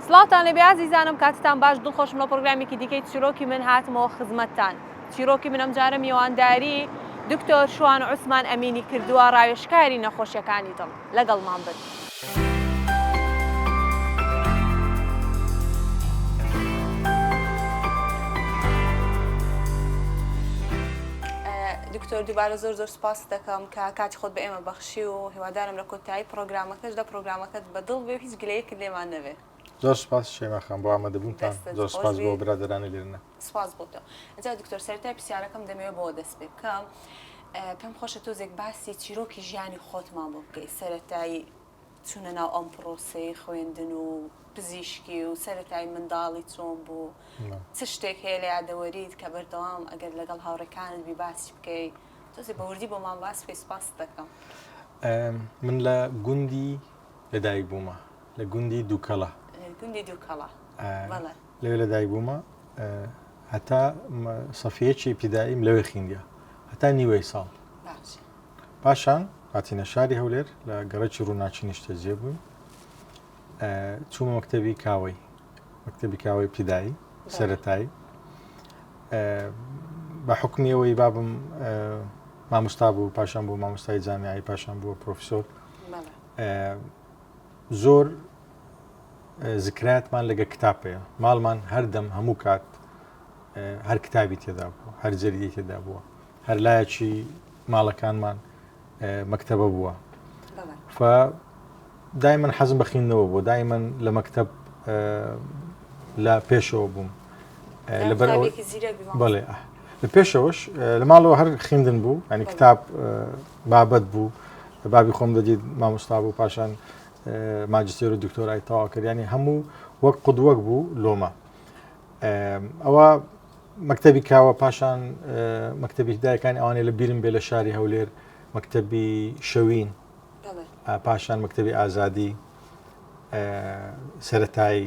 سڵاوتان لێبێ ئازیزانم کاتتان باش دڵخۆشم لە پڕۆگرامێکی دیکەی چیرۆکی من هاتمەوە خزمەتتان چیرۆکی من ئەمجارە میوانداری دکتۆر شوان عوسمان ئەمینی کردووە ڕاوێژکاری نەخۆشیەکانی دڵ لەگەڵمان بن. دکتۆر دووبارە زۆر زۆر سوپاست دەکەم کە کاتی خۆت بە ئێمە بەخشی و هیوادارم لە کۆتایی پڕۆگرامەکەشدا پڕۆگرامەکەت بە دڵ بێ گلەیەکت لێمان نەبێ. زۆر سوپاس شەیما خان بۆ ئامادەبوونتان، زۆر سوپاس بۆ برادەرانی لێرنە. سوپاس بۆ تۆ. ئینجا دکتۆر سەرەتای پرسیارەکەم دەمەوێ بەوە دەست پێ بکەم پێم خۆشە تۆزێک باسی چیرۆکی ژیانی خۆتمان بۆ بکەی سەرەتای چوونە ناو ئەم پرۆسەی خوێندن و پزیشکی و سەرەتای منداڵی چۆن بوو چ شتێک هەیە لە یادەوەریت کە بەردەوام ئەگەر لەگەڵ هاوڕێکانت بی باسی بکەی تۆزێ بەوردی بۆمان باس بکەی سوپاست دەکەم. من لە گوندی لە دایک بوومە لە گوندی دووکەڵە گوندی دووکەڵە لەوێ لە دایک بوومە هەتا سەفیەکی پیداییم لەوێ خینگە هەتا نیوەی ساڵ پاشان هاتینە شاری هەولێر لە گەڕێکی ڕووناچی نیشتە جێ بووین چوومە مەکتتەبی کاوەی مەکتتەبی کاوەی پیدایی سەتایی بە حکمیەوەی بابم مامۆستا بوو پاشان بوو مامۆستای جامیایی پاشان بووە پرۆفیسۆر زۆر زکراتمان لەگە کتابەیە ماڵمان هەردەم هەموو کات هەر کتابی تێدا بوو هەر جەرگی تێدا بووە هەر لایەکی ماڵەکانمان مەکتتەبە بووە دای من حەزم بەخینەوە بۆ دای من لە مەکتب لە پێشەوە بووم لەبەر بەڵێ لە پێشەوەش لە ماڵەوە هەر خوێندن بوو ئەنی کتاب بابەت بوو بابی خۆم دەدیت مامۆستا بوو پاشان ماجستێر و دکتۆرای تەواکردیانی هەموو وەک قودوەک بوو لۆمە ئەوە مەکتتەبی کاوە پاشان مەکتتەبی هدایەکان ئەوانەیە لە بیرم بێ لە شاری هەولێر مەکتتەبی شەوین پاشان مەکتتەبی ئازادی سەتایی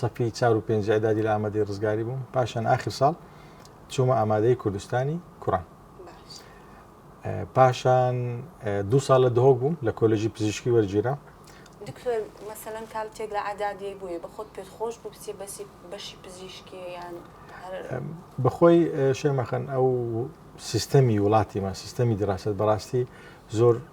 سەفی چار و پێنج ئەدادی لە ئامادەی ڕزگاری بووم پاشان ئاخر ساڵ چوومە ئامادەی کوردستانی کوڕان پاشان دو ساڵ لە دهۆک بووم لە کۆلژی پزیشکی وەرگیرا دکتۆر مەسەەن کالتێک لە عادادی بووی بە خۆت پێت خۆش بوو بچێ بەسی بەشی پزیشکیان بەخۆی شێمەخەن ئەو سیستەمی وڵاتیمان سیستەمی دراست بەڕاستی زۆر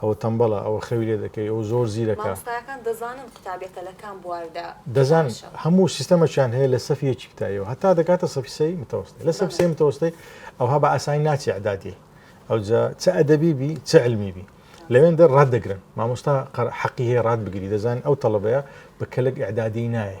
ئەوە تەمبەڵە، ئەوە خەوی لێ دەکەی، ئەو زۆر زیرەکە. مامۆستایەکان دەزانن قوتابیەکە لە کام بواردا دەزانن باشە. هەموو سیستەمەکیان هەیە لە سەف یەکی کوتاییەوە هەتا دەگاتە سەفی سێی متەوەستی. لە سەف سێی متەوەستەی ئەوها بە ئاسانی ناچی ئیعدادی. ئەوجا چ ئەدەبی بی، چ علمی بی. لەوێندە ڕات دەگرن. مامۆستا قەر حەقی هەیە ڕات بگری. دەزانن ئەو تەڵەبەیە بە کەلک ئیعدادی نایێ.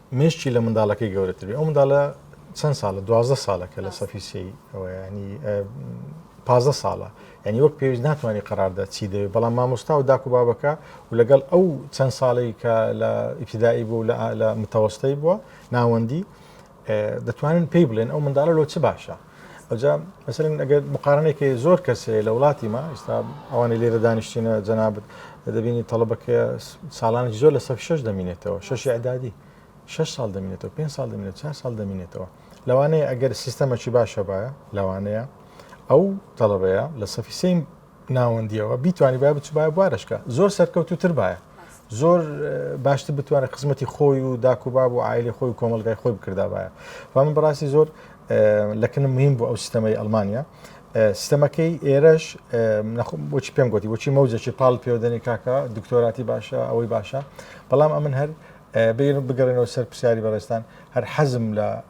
مێشکی لە منداڵەکەی گەورەتربێ ئەو منداڵە چەند ساڵە دوازدە ساڵە کە لە سەفی سی ئەوەیانی پازدە ساڵە ینی وەک پێویست ناتوانانی قەراردە چی دەوێت بەڵام مامۆستا و داکو بابەکە و لەگەڵ ئەو چەند ساڵی کە لە ئیبتدایی بوو لە متەوەستەی بووە ناوەندی دەتوانن پێی بڵێن ئەو منداڵە لۆ چ باشە ئەجا مەسەلەن ئەگەر مقارنەیەکە زۆر کەسێ لە وڵاتی ما ئستا ئەوانی لێرە دانیشتینە جەنابەت دەبینی تەڵبەکە ساڵانی زۆر لە سەف شش دەمینێتەوە شش عدادی شش ساڵ دەمینێتەوە پێ ساڵ دەمینێت چه ساڵ دەمینێتەوە لەوانەیە ئەگەر سیستەمەکی باشە باە لەوانەیە ئەو تەڵەبەیە لە سەفی سیم ناوەندیەوە بیتوانیبا بچبایە بوارەشکە زۆر سەرکەوتوتر باە زۆر باشتر بتوانێت خزمەتی خۆی و داکوباب و ئایلی خۆی و کۆمەلگای خۆی بکردداواە و من بڕاستی زۆر لەکنم مهم بۆ ئەو سیستەمەی ئەلمانیا سیستەمەکەی ئێرەش بۆچی پێم گوتی بۆچی مەوجێکی پاڵ پێودەنی کاکە دکتۆراتی باشە ئەوەی باشە بەڵام ئەمن هەر بیر بگەڕێنەوە سەر پرسیاری بەڕێستان هەر حەزم لە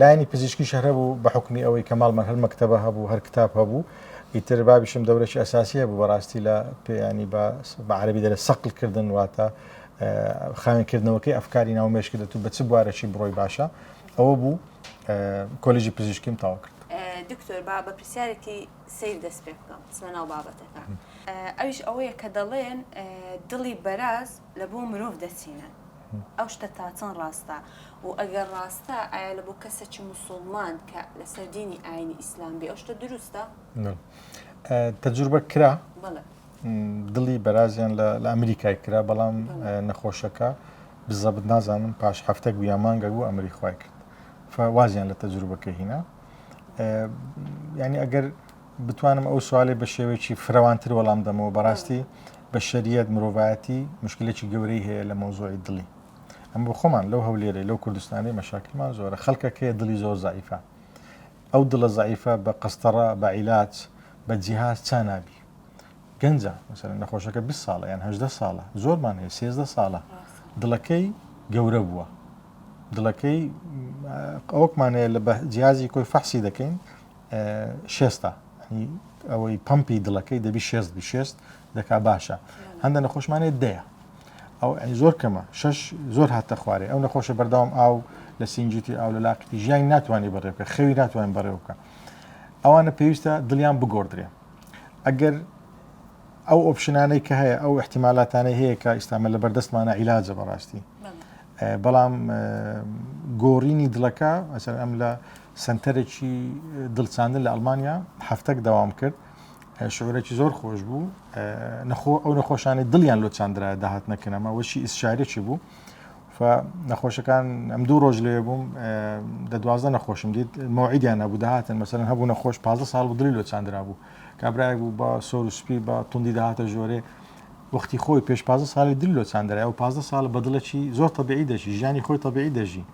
لایەنی پزیشکیش هەر هەبوو بە حکومی ئەوەی کە ماڵمان هەر مەکتتەبە هەبوو هەر کتاب هەبوو ئیتر بابیشم دەورەی ئەساسی هەبوو بەڕاستی لە پێیانی بە عربی دەرە سەقل کردن واتە خاوێنکردنەوەکەی ئەفکاری ناو مێشکی دەتو بە چ بوارەشی بڕۆی باشە ئەوە بوو کۆلیژی پزیشکیم تاوا کرد دکتۆر با بە پرسیارێکی سیر دەست پێ بکەم سمە ناو بابەتەکە ئەوش ئەوەیە کە دەڵێن دڵی بەراز لە بۆ مرۆڤ دەچینن ئەو شتە تاچەند ڕاستە و ئەگەر ڕاستە ئایا لە بۆ کەسێکی موسڵمان کە لەسەر دینی ئاینی ئیسلام بێ ئەو شتە دروستە؟ تەجروبە کرا دڵی بەرازیان لە ئەمریکای کرا بەڵام نەخۆشەکە بزەبت نازانم پاش هەفتەک بوو یا مانگە بوو ئەمری خی کرد وازیان لە تەجروبەکە هینا ینی ئەگەر بتوانم ئەو سوالەی بە شێوەیەکی فرەوانتر وەڵام دەمەوە بەڕاستی بەشەریەت مرۆڤایەتی مشکلێکی گەورەی هەیە لە مەوزوعی دڵی ئەم بۆ خۆمان لەو هەولێرەی لەو کوردستانی مەشاکلمان زۆرە خەڵکەکەیە دڵی زۆر زعیفە ئەو دڵە زعیفە بە قەستەڕە بە عیلاج بە جیهاز چا نابی گەنجە مەسەر نەخۆشەکە 20 ساڵە یان هەدە ساڵە زۆرمان هەیە سێزدە ساڵە دڵەکەی گەورە بووە دڵەکەی ئەوکمانەیە لە بە جیازی کۆی فەحسی دەکەین شێستە ئەوەی پمپی دڵەکەی دەبی شێست بی شێست دەکا باشە هەندە نەخۆشمانێت دەیە ئەو ئەی زۆر کەمە شش زۆر هاتە خوارێ ئەو نەخۆشە بەردەوام ئاو لە سنجیتی ئاو لە لاقیتی ژیانی ناتوانانی بەڕێبکە خەوی ناتوان بەڕێوکە ئەوانە پێویستە دڵیان بگۆدرێ ئەگەر ئەو ئۆپشنانەی کە هەیە ئەو احتیمالاتانەی هەیە کە ئیسلامە لە بەردەستمانە عیلاجە بەڕاستی بەڵام گۆڕینی دڵەکە ئەسەر ئەم لە سەنتەرێکی دڵ چاندن لە ئەڵمانیا هەفتەک داوام کرد شعورێکی زۆر خۆش بوو نەخۆ ئەو نەخۆشانی دڵیان لۆ چاندرا داهات نەکەنەما وەشی ئیسشارێکی بوو نەخۆشەکان ئەم دوو ڕۆژ لێ بووم دە دوازدە نەخۆشم دیت مەوعیدیان نەبوو داهاتن مەسەن هەبوو نەخۆش پازە ساڵ و دلی لۆ چاندرا بوو کابراای بوو بە سۆر و سپی بە توندی داهاتە ژۆرێ وەختی خۆی پێش پازە ساڵی دل لۆ چاندرای و پازە ساڵ بەدڵەکی زۆر تەبیعی دەژی ژیانی خۆی تەبیعی دەژی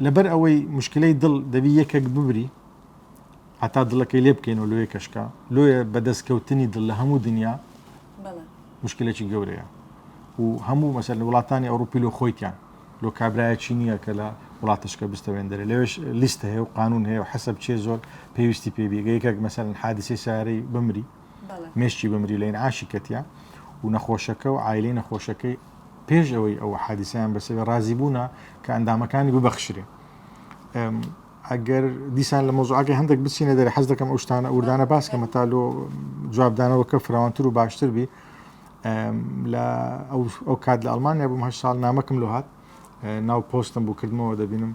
لەبەر ئەوەی مشکلەی دڵ دەبی یەکەک ببری هەتا دڵەکەی لێ بکەین و لۆیە کەشکە لۆیە بەدەست کەوتنی دڵ لە هەموو دنیا مشکلێکی گەورەیە و هەموو مەسەر لە وڵاتانی ئەوروپی لۆ خۆیان لۆ کابراایەکی نییە کە لە وڵاتشکە بستەوێندرێ لەوێش لیست هەیە و قانون هەیە و حەسب چێ زۆر پێویستی پێ بێگەیەکێک مەسەر حادسی سارەی بمری مشتی بمری لەین عاشی کەتە و نەخۆشەکە و ئایلەی نەخۆشەکەی پێش ئەوەی ئەو حادیسیان بەسەوێ ڕازی بوونا کە ئەندامەکانی ببەخشرێ ئەگەر دیسان لە مۆزعاگە هەندێک بچینە دەرە حەز دەکەم ئەو شتانە ئوردانە باسکەمە تا لۆ جوابدانەوە کە فراوانتر و باشتر بی لە ئەو کات لە ئەلمانیا بووم هە ساڵ نامەکم لۆ هاات ناو پۆستم بوو کردمەوە دەبینم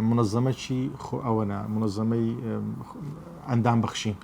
منەزەمەکی خۆ ئەوەنا منەزەمەی ئەندام بەخشین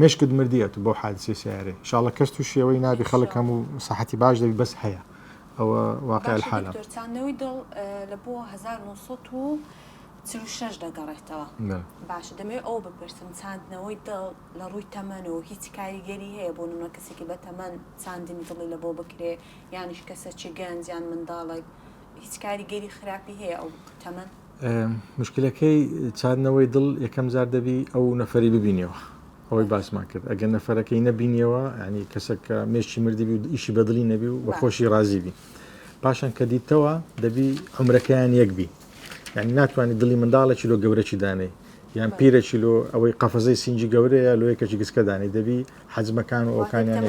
مێشکت مردی ئەتو بەو حادسەی سەیارەی انشاءاللە کەس توشی ئەوەی نابی خەلک هەمو سەحەتی باش دەبی بەس هەیە ئەوە واقع باشە الحالە. دکتۆر چاندنەوەی دڵ لە بۆ هەزار و نۆ سەد و چل و شەش دەگەڕێتەوە باشە دەمەوێت ئەوە بپرسم چاندنەوەی دڵ لە ڕووی تەمەنەوە هیچ کاریگەری هەیە بۆ نمونە کەسێکی بە تەمەن چاندنی دڵی لە بۆ بکرێ یانیش کەسەکی گەنج یان منداڵێک هیچ کاریگەری خراپی هەیە ئەو تەمەن؟ مشکلەکەی چاندنەوەی دڵ یەکەم جار دەبی ئەو نەفەری ببینیەوە ئەوەی باسمان کرد ئەگەر نەفەرەکەی نەبینیەوە ینی کەسەکە مێشی مردیبی و ئیشی بەدڵی نەبی و بەخۆشی رازی بی پاشان کە دیتەوە دەبی عمرەکەیان یەکبی یعنی ناتوانانی دڵی منداڵێکی لۆ گەورەی دانێ یان پیرەکی لۆ ئەوەی قەفەزەی سنجی گەورەیە لۆ یەکەکی گسکەدانی دەبی حەجمەکان و ئەوکانیان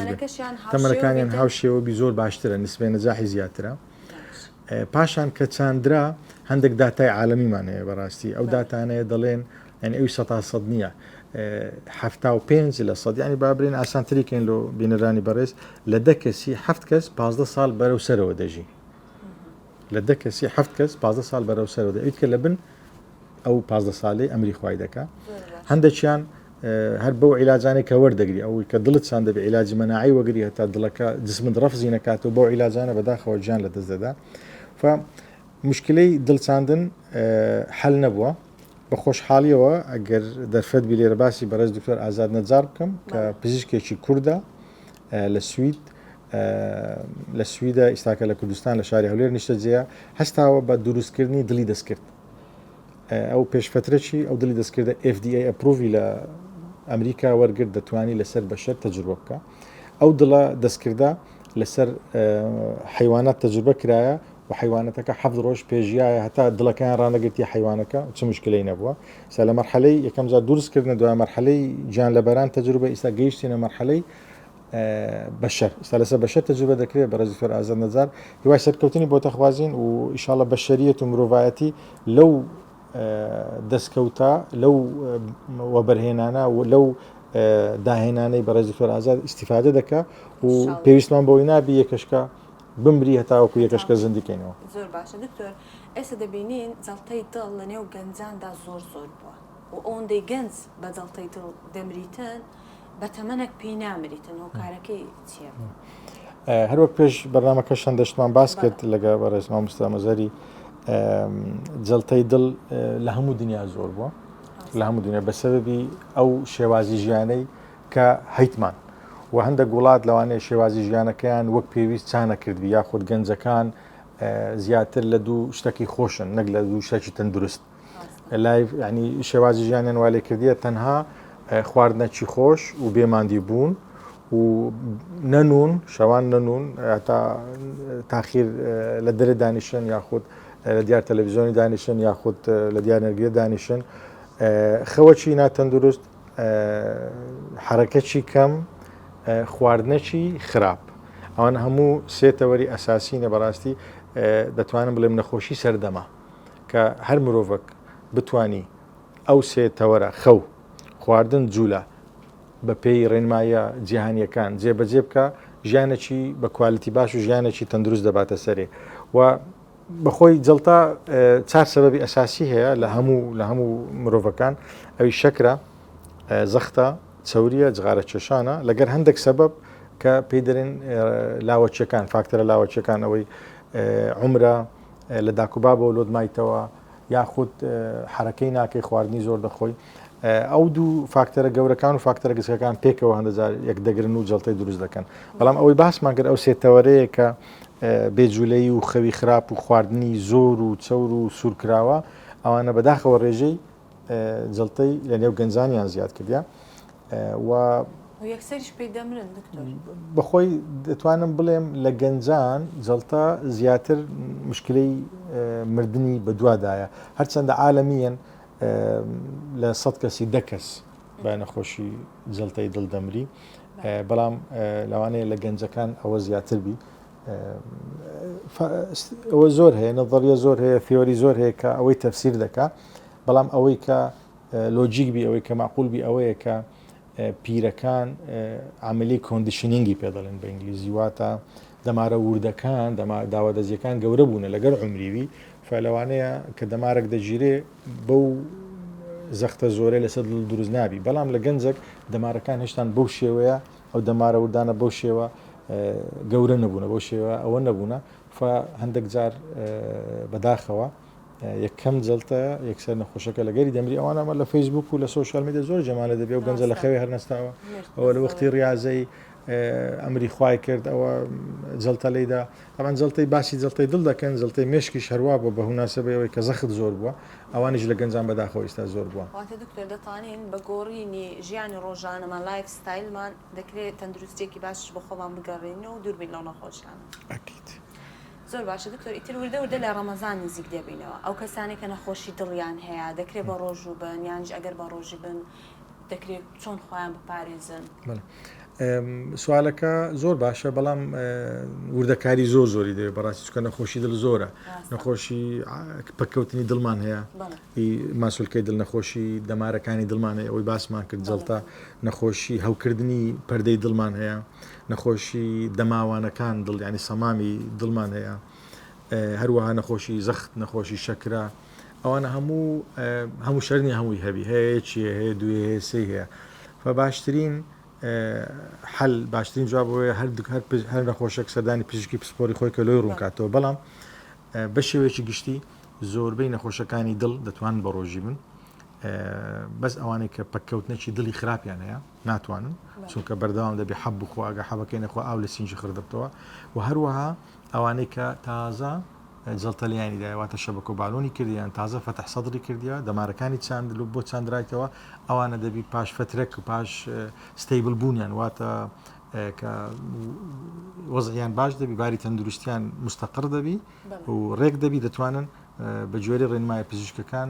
تەمەەکانیان هاوشێوە بی زۆر باشترە نسبێنە جاحی زیاترە پاشان کە چاندرا هەندێک داتای عالەمیمان هەیە بەڕاستی ئەو داتانەیە دەڵێن یعنی ئەوی سە سەد نییە حفتا و پێنج لە سەد ینی بابرێن ئاسانتریکەین لۆ بینەرانی بەڕێز لە دە کەسی هەفت کەس پازدە ساڵ بەرەو سەرەوە دەژی لە دە کەسی هەفت کەس پازدە ساڵ بەرەو سەرەوە دەیت کە لە بن ئەو پازدە سالەی ئەمری خوای دەکا هەندێکیان هەر بەو عیلاجانێک کە وەردەگری ئەوەی کە دڵت چند دەبێ عیلاجی مەناعی وەگری هەتا دڵەکە جسمت ڕفزی نکات و بەو عیلاجانە بەداخەوە گیان لە دەست دەدا مشکلەی دڵچاندن حل نەبووە بە خۆشحاڵیەوە ئەگەر دەرفەت بی لێرە باسی بەڕێز دکتۆر ئازاد نەجار بکەم کە پزیشکێکی کووردە لە سوید لە سویدە ئیستاکە لە کوردستان لە شاری هەولێر نیشتە جێە هەستاوە بە دروستکردنی دڵی دەستکرد ئەو پێشفترە چی ئەو دلی دەستکردە FDA ئەپروڤی لە ئەمریکا وەرگرت دەتوانی لەسەر بەشەر تەجروبە بکە ئەو دڵە دەستکردە لەسەر حیوانات تەجروبە کرایە و حیوانەتەکە حەفت ڕۆژ پێژیایە هەتا دڵەکەیان ڕانەگرتی حیوانەکە چ مشکلەی نەبووە سە لە مەرحەلەی یەکەم جار دروستکردن دوای مەرحەلەی گیان لەبەران تەجروبە ئیستا گەیشتینە مەرحەلەی بەشەر ئیستا لەسەر بەشەر تەجروبە دەکرێت بەڕێز دکتۆر ئازاد نەجار هیوای سەرکەوتنی بۆ تەخوازین و ئیشاڵە بەشەریەت و مرۆڤایەتی لەو دەستکەوتە لەو وەبەرهێنانە و لەو داهێنانەی بەڕێز دکتۆر ئازاد ئیسیفادە دەکە و پێویستمان بۆی نابی یەکەشکە بمری هەتاوەکو یەکەشکە زندیکەینەوە زۆر باشە دکتۆر ئێستا دەبینین جەڵتەی دڵ لە نێو گەنجاندا زۆر زۆر بووە و ئەوەندەی گەنج بە جەڵتەی دڵ دەمریتن بە تەمەنەک پێی نامریتن هۆکارەکەی چیە؟ هەروەک پێش بەرنمەکە شەندەشتمان باس کرد لەگە بەڕێز مامۆستا مەزەری جلتەی دڵ لە هەموو دنیا زۆر بووە لە هەموو دنیا بەسەببی ئەو شێوازی ژیانەی کە هەیتمان و هەندێک وڵات لەوانەیە شێوازی ژیانەکەیان وەک پێویست چانە کردبی یاخود گەنجەکان زیاتر لە دوو شتەکی خۆشن نەک لە دوو شتێکی تەندروست لایڤ ینی شێوازی ژیانیان وا لێ کردیە تەنها خواردنە چی خۆش و بێماندی بوون و نەنون شەوان نەنون تا تاخیر لە دەرە دانیشن یاخود لە دیار تەلەڤزیۆنی دانیشن یاخود لە دیار نەرگێ دانیشن خەوەچی ناتەندروست حرەکەچی کەم خواردنەچی خراپ ئەوان هەموو سێتەوەری ئەساسینە بەڕاستی دەتوانم بڵێم نەخۆشی سەردەما کە هەر مرۆڤەک بتوانی ئەو سێ تەوەرە، خەو، خواردن، جوولە، بە پێی ڕێنماییە جیهانییەکان جێ بە جێ بکا، ژیانێکی بە کوالیتی باش و ژیانێکی تەندروست دەباتە سەرێ و بە خۆی جەڵتە چار سەبەبی ئەساسی هەیە لە هەموو لە هەموو مرۆڤەکان ئەوی شەکرە، زەختە، چەورییە، جغارە کێشانە لەگەر هەندێک سەبەب کە پێی دەرێن لاوەکیەکان، فاکتەرە لاوەکیەکان ئەوەی عومرە، لە داکوبابەوە لۆت مایتەوە یاخود حەرەکەی ناکەی خواردنی زۆر دەخۆی ئەو دوو فاکتەرە گەورەکان و فاکتەرە گچکەکان پێکەوە هەندەزار یەک دەگرن و جڵتەی دروست دەکەن بەڵام ئەوەی باسمان کرد ئەو سێتەوەرەیە کە بێجولەی و خەوی خراپ و خواردنی زۆر و چەور و سوورکراوە ئەوانە بەداخەوە ڕێژەی جەڵتەی لە نێو گەنجانیان زیاد کردە و یەکسەریش پێی دەمرن دکتۆر بەخۆی دەتوانم بڵێم لە گەنجان جەڵتە زیاتر مشکلەی مردنی بەدوادایە هەرچەندە عاالەمیەن لە سە کەسی دەکەس بە نەخۆشی جەڵتەی دڵ دەمری بەڵام لەوانەیە لە گەنجەکان ئەوە زیاتر بی ئەوە زۆر هەیە نەظریە زۆر هەیە فێۆری زۆر هەیە کە ئەوەی تەفسیر دەکات بەڵام ئەوەی کە لۆجیک بی ئەوەی کە معقول بی ئەوەیە کە پیرەکان عملی کۆندیشنینگی پێ دەڵێن بە ئینگلیزی واتە دەمارە وردەکان داوا دەزیەکان گەورە بوونە لەگەر عمریوی فەلەوانەیە کە دەمارک دەگیرێ بەو زەختە زۆرە لەسەر دروست نابی بەڵام لە گەنجێک دەمارەکان هێشتان بەو شێوەیە ئەو دەمارە وردانە بەو شێوە گەورە نەبوونە بەو شێوە ئەوە نەبوونە هەندێک جار بەداخەوە یەکەم جەڵتە یەکسەر نەخۆشەکە لە گەری دەمری ئەوان ئەمە لە فەیسبوک و لە سوۆشال میدە زۆر جەمالە دەبێ و گەنجە لە خەوێ هەرنەستاوە ئەوە لە وەختی ڕاضەی ئەمری خوای کرد ئەوە جەڵتە لیدا ئەمان جەڵتەی باسی جەڵتەی دڵ دەکەن جەڵتەی مشکی شەروا بۆ بە هوناسەبەی ئەوەی کە زەخت زۆر بووە ئەوانیش لە گەنجان بەداخۆ ئیستا زۆر بووە دکتۆر دەتوانین بە گۆڕینی ژیانی ڕۆژانەمان لایف ستایلمان دەکرێت تەندروستێکی باشش بە خۆمان بگەڕێنەوە و دووربین لەو نەخۆشیانە ئەکید. زۆر باشە دکتۆر ئیتر وردە وردە لە ڕەمەزان نزیک دەبینەوە ئەو کەسانەی کە نەخۆشی دڵیان هەیە دەکرێت بە ڕۆژوو بن یانیش ئەگەر بە ڕۆژی بن دەکرێت چۆن خۆیان بپارێزن؟ سوالەکە زۆر باشە بەڵام وردەکاری زۆر زۆری دەوێت بەڕاستی چکە نەخۆشی دڵ زۆرە نەخۆشی پکەوتنی دڵمان هەیە ی ماسولکەی دڵ نەخۆشی دەمارەکانی دڵمان هەیە ئەوەی باسمان کرد جەڵتە نەخۆشی هەوکردنی پەردەی دڵمان هەیە نەخۆشی دەماوانەکان دڵ یانی سەمامی دڵمان هەیە هەروەها نەخۆشی زەخت نەخۆشی شەکرە ئەوانە هەموو هەموو شەرنی هەمووی هەبی هەیە چیە هەیە دوێ هەیە سێ هەیە فباشترین حل باشترین جواب بۆیە هەر هەر هەر نەخۆشێک سەردانی پزیشکی پسپۆری خۆی کە لۆی ڕوونکاتەوە بەڵام بە شێوەیەکی گشتی زۆربەی نەخۆشەکانی دڵ دەتوانن بەڕۆژی بن بەس ئەوانەی کە پەککەوتنەکی دڵی خراپیان هەیە ناتوانن چونکە بەردەوام دەبێ حەب بخوا ئەگە حەبەکەی نەخوا ئاو لە سینجی خردبتەوە و هەروەها ئەوانەی کە تازە جڵتەلیانی داواتە شەبەکە و بالۆنی کردیان تازە فەتح سەدری کردیا دەمارەکانی چاند لو بۆ چاندرایتەوە ئەوانە دەبی پاش فترەک و پاش ستەیبل بوونیان واتە کە وەزیان باش دەبی باری تەندروستیان مستەقر دەبی و ڕێک دەبی دەتوانن بە جۆری ڕێنمای پزیشکەکان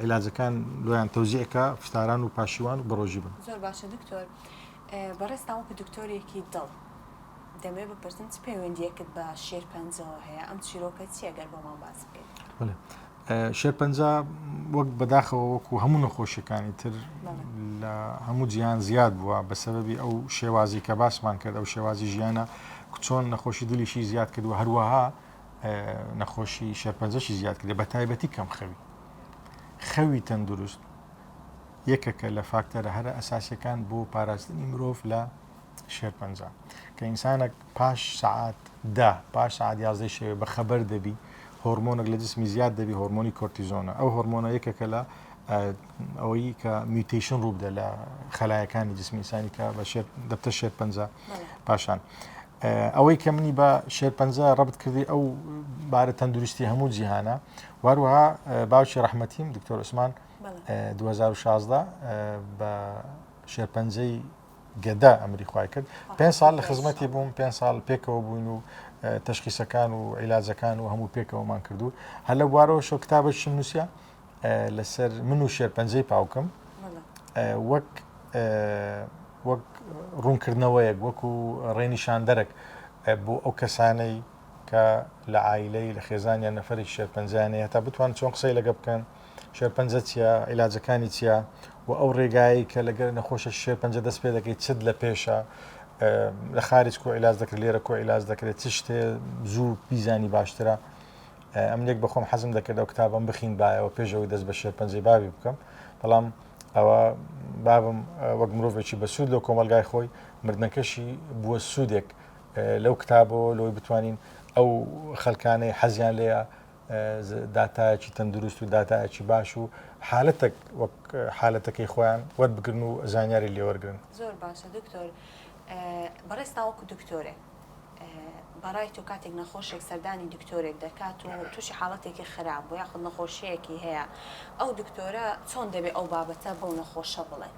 عیلاجەکان لۆیان تەوزیعکە پشتاران و پاشیوان و بەڕۆژی بن زۆر باشە دکتۆر بەڕێستان وەکو دکتۆرێکی دڵ دەمێ بپرسم چ پەیوەندیەکت بە شێرپەنجەوە هەیە ئەم چیرۆکە چیەگەر بۆمان باس بکەیت شێرپەنجە وەک بەداخەوە وەکو هەموو نەخۆشیەکانی تر لە هەموو جیان زیاد بووە بە سەبەبی ئەو شێوازی کە باسمان کرد ئەو شێوازی ژیانە چۆن نەخۆشی دلیشی زیاد کردو هەروەها نەخۆشی شێرپەنجەشی زیاد کرد بە تایبەتی کەم خەوی خەوی تەندروست یەکەکە لە فاکتەرە هەرە ئەساسەکان بۆ پاراستنی مرۆڤ لە شێرپەنجە کە ئینسانە پاش سەعات دە، پاش سەعات یازدەی شەوێ بە خەبەر دەبی هۆرمۆنێک لە جسمی زیاد دەبی هۆرمۆنی کۆرتیزۆنە ئەو هۆرمۆنە یەکێکە لە ئەوەی کە میوتەیشن ڕوو بدە لە خەلایەکانی جسمی ئینسانی کە بە شێر دەبتە شێرپەنجە پاشان ئەوەی کە منی بە شێرپەنجە ڕبت کردی ئەو بارە تەندروستی هەموو جیهانە واروها باوکی ڕحمەتیم دکتۆر عوسمان 2016 بە شێرپەنجەی گەدە ئەمری خوای کرد پێنج ساڵ لە خزمەتی بووم پێنج ساڵ پێکەوە بووین و تشخیسەکان و عیلاجەکان و هەموو پێکەوەمان کردو هەر لە بوارەوە شۆ کتابە شم نووسە لەسەر من و شێر پەنجەی پاوکم وەک وەک ڕوونکردنەوەیەک وەکو ڕێنیشاندەرەك بۆ ئەو کەسانەی کە لە ئایلەی لە خێزانیان نەفرێک شێرپەنجانەیە تا بتوان چۆن قسەی لەگە بکەن شێرپەنجە چیە عیلاجەکانی چیە و ئەو ڕێگایی کە لەگەر نەخۆشە شێرپەنجە دەست پێ دەکەیت چت لە پێشە لە خارج کۆ عیلاج دەکرێت لێرە کۆ عیلاج دەکرێت چ شتێ زوو بیزانی باشترە ئەم لێک بەخۆم حەزم دەکرد ئەو کتابم بخین بایەوە پێشەوەی دەست بە شێرپەنجەی باوی بکەم بەڵام ئەوە بابم وەک مرۆڤێکی بەسوود لەو کۆمەلگای خۆی مردنەکەشی بووە سوودێک لەو کتابەوە لەوەی بتوانین ئەو خەلکانەی حەزیان لێە داتایەکی تەندروست و داتایەکی باش و حالەتەک وەک حالەتەکەی خۆیان وەربگرن و زانیاری لێوەرگن زۆر باشە دکتۆر بەڕێز تاوەکو دکتۆرێ بەڕای تۆ کاتێک نەخۆشێک سەردانی دکتۆرێک دەکات و تووشی حاڵەتێکی خراپ بۆ یاخود نەخۆشیەکی هەیە ئەو دکتۆرە چۆن دەبێت ئەو بابەتە بەو نەخۆشە بڵێت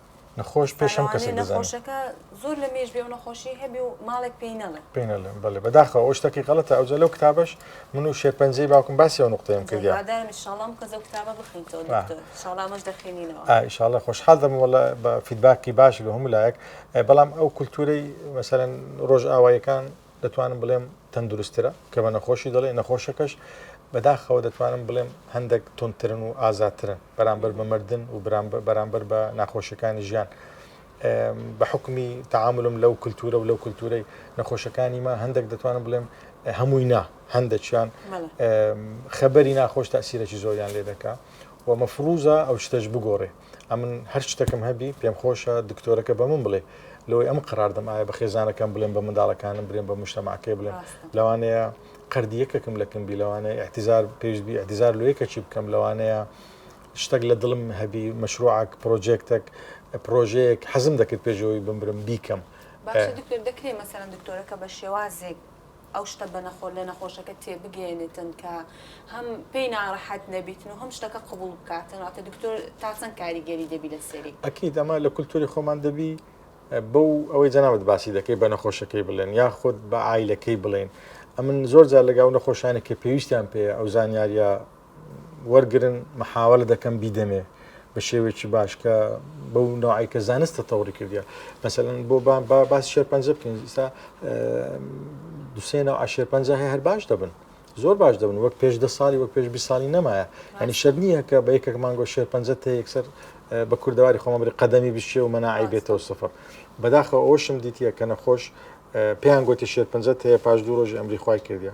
نەخۆش پێش هەم کەسێک نەخۆشەکە زۆر لە مێژ بێ و نەخۆشی هەبێ و ماڵێک پێی نەڵێ پێ نەڵێن بەڵێ بەداخەوە ئەو شتەکەی غەڵەتە ئەوجە لەو کتابش من و شێرپەنجەی باوکم باسی ئەو نقطەیەم کرد شڵام کەزە کتابە بخینەوە شڵامەش دەخێنینەوە ئایشاڵە خۆشحال دەم وڵە بە فیدباکی باش لە هەموو لایەک بەڵام ئەو کولتورەی مەسەرەن ڕۆژ ئاوایەکان دەتوانم بڵێم تەندروستترە کە بە نەخۆشی دەڵێ نەخۆشەکەش بەداخەوە دەتوانم بڵێم هەندێک تونترن و ئازاترن بەرامبەر بە مردن و بەرامبەر بە ناخۆشەکانی ژیان بە حکمی تعاملم لەو کللتورە و لەو کللتورەی نەخۆشەکانی ما هەندێک دەتوانم بڵێم هەمووی نا هەندەکیان خەبەری ناخۆش تاسیرەی زۆریان لێ دەکا و مەفروزە ئەو شتەش بگۆڕێ ئەمن هەر شتەکەم هەبی پێم خۆشە دکتۆرەکە بە من بڵێ لەوەی ئەم قراردەم ئایا بە خێزانەکەم بڵێن بە منداڵەکانم برێن بە مشتەماکەی بڵێن لەوانەیە قردیەکەکم لەکم بی لەوانەیە احتیزار پێشبی احتیزار لەیەکە چی بکەم لەوانەیە شتێک لە دڵم هەبی مەشروعک پرۆژێکتێک پرۆژەیەک حەزم دەکرد پێشەوەی بمبرم بیکەم دەکرێت مەسەرەن دکتۆرەکە بە شێوازێک ئەو شتە بە نەخۆ لە نەخۆشەکە تێبگەیەنێتن کە هەم پێی ناڕەحەت نەبیتن و هەم شتەکە قبوڵ بکاتن واتە دکتۆر تا چەند کاریگەری دەبی لە سەری ئەکید ئەمە لە کولتوری خۆمان دەبی بەو ئەوەی جەنابەت باسی دەکەی بە نەخۆشەکەی بڵێن یا خۆت بە ئایلەکەی بڵێن ئەمن زۆر جار لەگەڵ نەخۆشانی کە پێویستیان پێ ئەو زانیاریە وەرگرن محاوەلە دەکەم بیدەمێ بە شێوێکی باش کە بەو نوعی کە زانستە تەوری کردیا مەسەن بۆ باس شێرپەنجە بکەین ئستا دوسێنە عشێرپەنجە هەیە هەر باش دەبن زۆر باش دەبن وەک پێش دە ساڵی وەک پێش بی ساڵی نەمایە ینی شەر نییە کە بە یەکێک مانگۆ شێرپەنجە تێ یەکسەر بە کوردەواری خۆمەبری قەدەمی بشێ و مەناعی بێتەوە سفر بەداخە ئەوشم دیتە کە نەخۆش پێیان گوتی شێرپەنجە هەیە پاش دوو ڕۆژی ئەمری خی کردە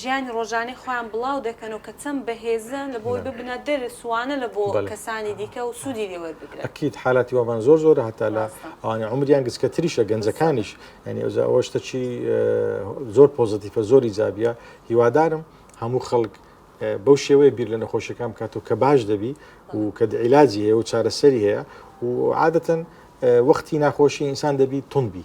ژیانی ڕۆژانەی خۆیان بڵاو دەکەن و کە چەند بەهێزن لە بۆی ببنە دەرس وانە لە بۆ کەسانی دیکە و سوودی لێ وەربگرن. ئەکید حالاتی وامان زۆر زۆرە هەتا لە ئەوانەی عومریان گچکەتریشە گەنجەکانیش یانی ئەوجا ئەوە شتەکی زۆر پۆزەتیفە زۆر ئیجابیە هیوادارم هەموو خەڵک بەو شێوەیە بیر لە نەخۆشیەکان بکات و کە باش دەبی و کە عیلاجی هەیە و چارەسەری هەیە و عادەتەن وەختی ناخۆشی ئینسان دەبی توندبی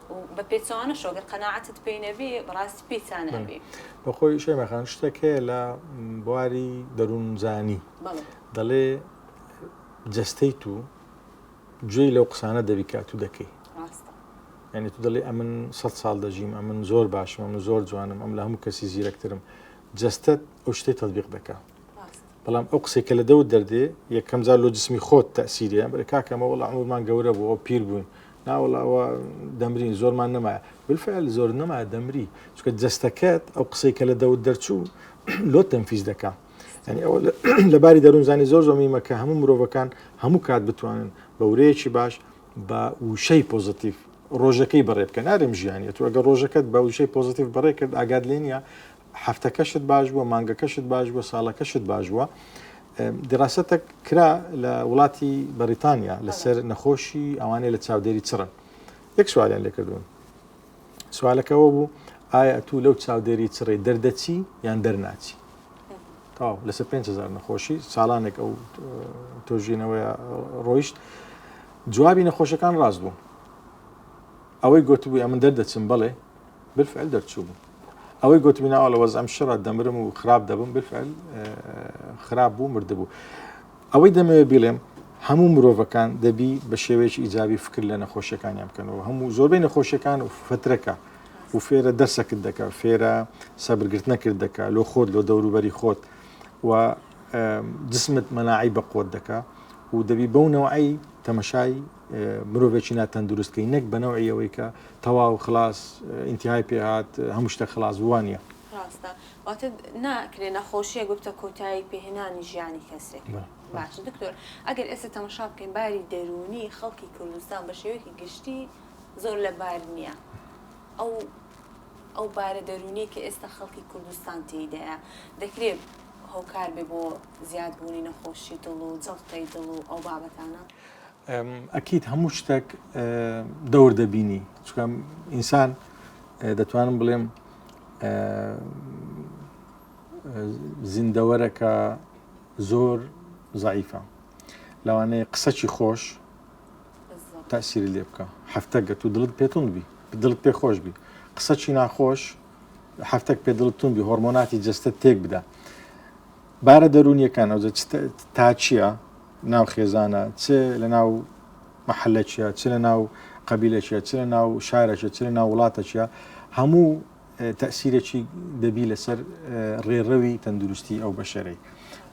و بە پێچەوانەشەوە گەر قەناعەتت پێی نەبێ بەڕاستی پێی تا نابێ. بە خۆی شەیما خان شتێک هەیە لە بواری دەروونزانی بەڵێ دەڵێ جەستەی تو گوێی لەو قسانە دەبی کە ئەتوو دەکەی ڕاستە یعنی تو دەڵێ ئەمن سەد ساڵ دەژیم ئەمن زۆر باشم ئەمن زۆر جوانم ئەم لە هەموو کەسی زیرەکترم جەستەت ئەو شتەی تەطبیق دەکا ڕاستە بەڵام ئەو قسەی کە لە دەوت دەردێ یەکەم جار لۆ جسمی خۆت تەسیریە بەرە کاکەمە وەڵ عمرمان گەورە بوو ئەو پیر بووین ناوەڵا ئەوە دەمرین زۆرمان نەما بالفعل زۆر نەما دەمری چکە جستەکەت ئەو قسەی کە لە دەوت دەرچوو لۆ تەنفیز دەکا ینی ئەوە لەباری دەروونزانی زۆر زۆر میمە کە هەموو مرۆڤەکان هەموو کات بتوانن بە ورەیەکی باش بە وشەی پۆزتیف ڕۆژەکەی بەڕێ بکە نارێم ژیانە تو ئەگە ڕۆژەکەت بە وشەی پۆزتیف بەڕێ کرد ئاگاد لێ نیە هەفتەکەشت باش بووە مانگەکەشت باش بووە ساڵەکەشت باش بووە دیڕاستە کرا لە وڵاتی بەریتانیا لەسەر نەخۆشی ئەوانەی لە چاودێری چڕن یەک سوالیان لێکردون سوالەکەەوە بوو ئایا تو لەو چاودێری چڕی دەردەچی یان دەرناچی تاو لەسە 5هزار نەخۆشی ساڵانێک ئەو تۆژینەوەی ڕۆیشت جوابی نەخۆشەکان ڕاست بوو ئەوەی گوتبووە من دەردەچم بڵێ بالفعل دەرچوو بوو ئەوەی گوتمی ناوە لە وەزم شڕە دەمرم و خراپ دەبم بفعل خراپ بوو مردبوو ئەوەی دەمەوێت بڵێم هەموو مرۆڤەکان دەبی بە شێوەیەکی ئیجابی فکر لە نەخۆشیەکانیان بکەنەوە هەموو زۆربەی نەخۆشیەکان و فترەکە و فێرە دەرسەکت دەکە فێرە سەبرگرت نەکرد دەکە لۆ خۆت لۆ دەوروبەری خۆت و جسمت مەناعی بە قۆت دەکە و دەبی بەونەوەی تەمەشای مرۆڤێکی ناتەندروست کەی نەک بەنەوەی ئەوەی کە تەواو خلاص ئینتهای پێهات هەموو شتە خلاص وانە ڕاستە واتە ناکرێ نەخۆشیە گوتە کۆتایی پێهێنانی ژیانی کەسێک باش دکتۆر ئەگەر ئێستا تەمەشا بکەین باری دەروونی خەڵکی کوردستان بە شێوەیەکی گشتی زۆر لە بار نییە ئەو ئەو بارە دەروونی کە ئێستا خەڵکی کوردستان تێدایە دەکرێت هۆکار بێ بۆ زیادبوونی نەخۆشی دڵ و جڵتەی دڵ و ئەو بابەتانە ئەکیت هەموو شتێک دەور دەبینی چکەم ئینسان دەتوانم بڵێم زیندەوەرەکە زۆر زعیفە لەوانەیە قسەکی خۆش تاسیری لێ بکە هەفتە گەت و دڵت پێتون بی دڵت پێ خۆش بی قسەکی ناخۆش هەفتێک پێ دڵتون بی هۆرمۆناتی جستە تێک بدە بارە دەرونیەکان ئەو تا چییە ناو خێزانە، چ لە ناو مەحەلەکیە، چ لە ناو قەبیلەکیە، چ لە ناو شارەکیە، چ لە ناو وڵاتەکیە، هەموو تەسیرەکی دەبی لەسەر ڕێڕەوی تەندروستی ئەو بەشەرەی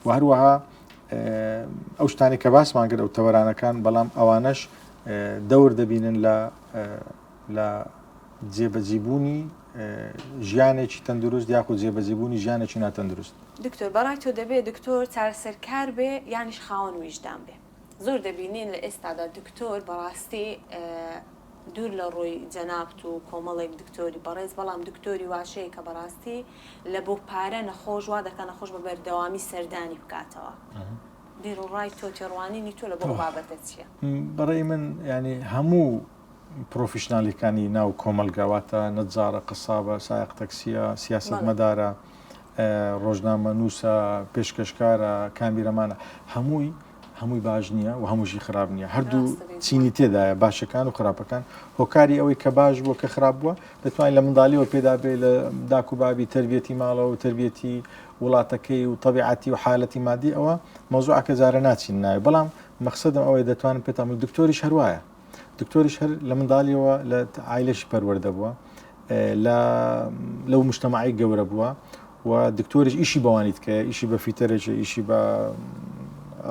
و هەروەها ئەو شتانی کە باسمان کرد ئەو تەوەرانەکان بەڵام ئەوانەش دەور دەبینن لە لە جێبەجیبوونی ژیانێکی تەندروست یاخود جێبەجیبوونی ژیانێکی ناتەندروست. دکتۆر بەڕای تۆ دەبێ دکتۆر چارەسەرکار بێ یانیش خاوەن ویژدان بێ؟ زۆر دەبینین لە ئێستادا دکتۆر بەڕاستی دوور لە ڕووی جەنابت و کۆمەڵێک دکتۆری بەڕێز بەڵام دکتۆری واشەیە کە بەڕاستی لە بۆ پارە نەخۆش وا دەکا نەخۆش بە بەردەوامی سەردانی بکاتەوە بیروڕای تۆ تێڕوانینی تۆ لە بۆ ئەو بابەتە چییە؟ بەڕێی من یانی هەموو پرۆفیشنالیەکانی ناو کۆمەلگا واتە نەجارە قەسابە سایەق تەکسیە سیاست مەدارە ڕۆژنامە نووسە پێشکەشکارە کامیرەمانە هەمووی هەمووی باش نییە و هەمووشی خراپ نییە هەردوو چینی تێدایە باشەکان و خراپەکان هۆکاری ئەوەی کە باش بووە کە خراپ بووە دەتوانین لە منداالیەوە پێدا بێ لە داک و بابی تربیەتی ماڵەوە و تربیەتی وڵاتەکەی و طبیعەتی و حالەتی مادی ئەوە مەزوعکە جارە ناچین ناوی بەڵام مەخصدم ئەوەی دەتوانن پێتامل دکتۆریش هەروایە دکتۆریش هەر لە منداڵیەوە لە ئایلەشی پەروەەردە بووە لەو مشتەماعی گەورە بووە و دکتۆریش ئیشی بەوانیت کە ئیشی بە فیتەرێکی ئیشی بە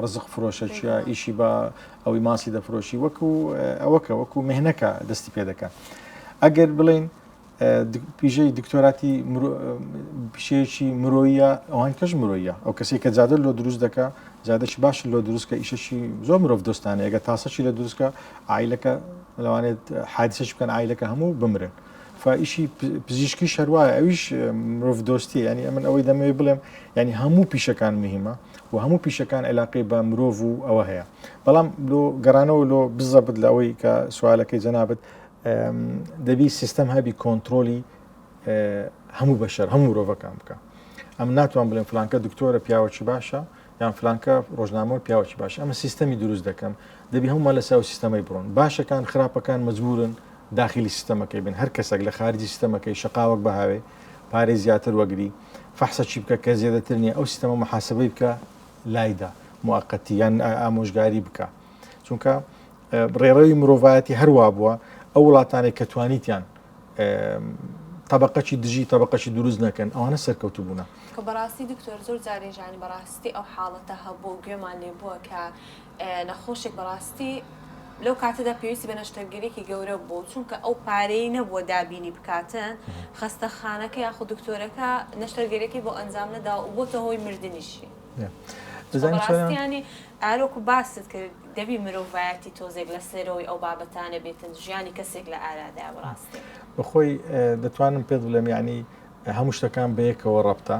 ڕزق فرۆشەچە ئیشی بە ئەوەی ماسی دەفرۆشی وەکو ئەوەکە وەکو مهنەکە دەستی پێ دەکە ئەگەر بڵین پیژەی دکتۆراتی پیشەیەکی مرۆیە ئەوان کەش مرۆیە ئەو کەسی کە جادە لۆ دروست دەکە جادەش باش لۆ دروستکە ئیشەشی زۆر مرۆڤ دۆستانە ئەگە تاسەشی لە دروستکە ئایلەکە لەوانێت حادسش بکەن ئایلەکە هەموو بمرن. فائیشی پزیشکی شەروایە ئەویش مرۆڤ دۆستی ینی ئەمن ئەوەی دەمەوێت بڵێم ینی هەموو پیشەکان مهمە و هەموو پیشەکان علاقی بە مرۆڤ و ئەوە هەیە بەڵام لۆ گەڕانەوە لۆ بزەبت لە ئەوەی کە سوالەکەی جەنابەت دەبی سیستەم هەبی کۆنتترۆلی هەموو بەشەر هەموو مرۆڤەکان بکە ئەم ناتوان بڵێن فلانکە دکتۆرە پیاوەکی باشە یان فلانکە ڕۆژنامەوە پیاوەکی باش ئەمە سیستەمی دروست دەکەم دەبی هەمومان لە ساو سیستەمەی بڕۆن باشەکان خراپەکان مجبورن داخلی سیستەمەکەی بن هەر کەسێک لە خارجی سیستەمەکەی شقاوەک بەهاوێ پارێ زیاتر وەگری فەحسە چی بکە کە زیێدەتر نیە ئەو سیستەمە محاسبەی بکە لایدا موقتی یان ئامۆژگاری بکە چونکە ڕێڕەوی مرۆڤایەتی هەروا بووە ئەو وڵاتانێک کە توانیتیان طبقەی دژی طبقەی دروست نەکەن ئەوانە سەرکەوتو بوون کە بەڕاستی دکتۆر زۆر جارێژان بەڕاستی ئەو حاڵەتە هەبوو گوێمان لێ بووە کە نەخۆشێک بەڕاستی لەو کاتەدا پێویستی بە نەشتەرگەرێکی گەورە بوو چونکە ئەو پارەی نەبووە دابینی بکاتن خستە خانەکە یاخود دکتۆرەکە نەشتەرگەرەکەی بۆ ئەنجام نەدا و بۆتە هۆی مردنیشی. بەڕاستیانی ئارۆکو باست کرد دەبی مرۆڤایەتی تۆزێک لە سەرەوەی ئەو بابەتانە بێتن ژیانی کەسێک لە ئارادا بڕاستی بەخۆی دەتوانم پێت بڵێم یعنی هەموو شتەکان بەیەکەوە ڕەبتە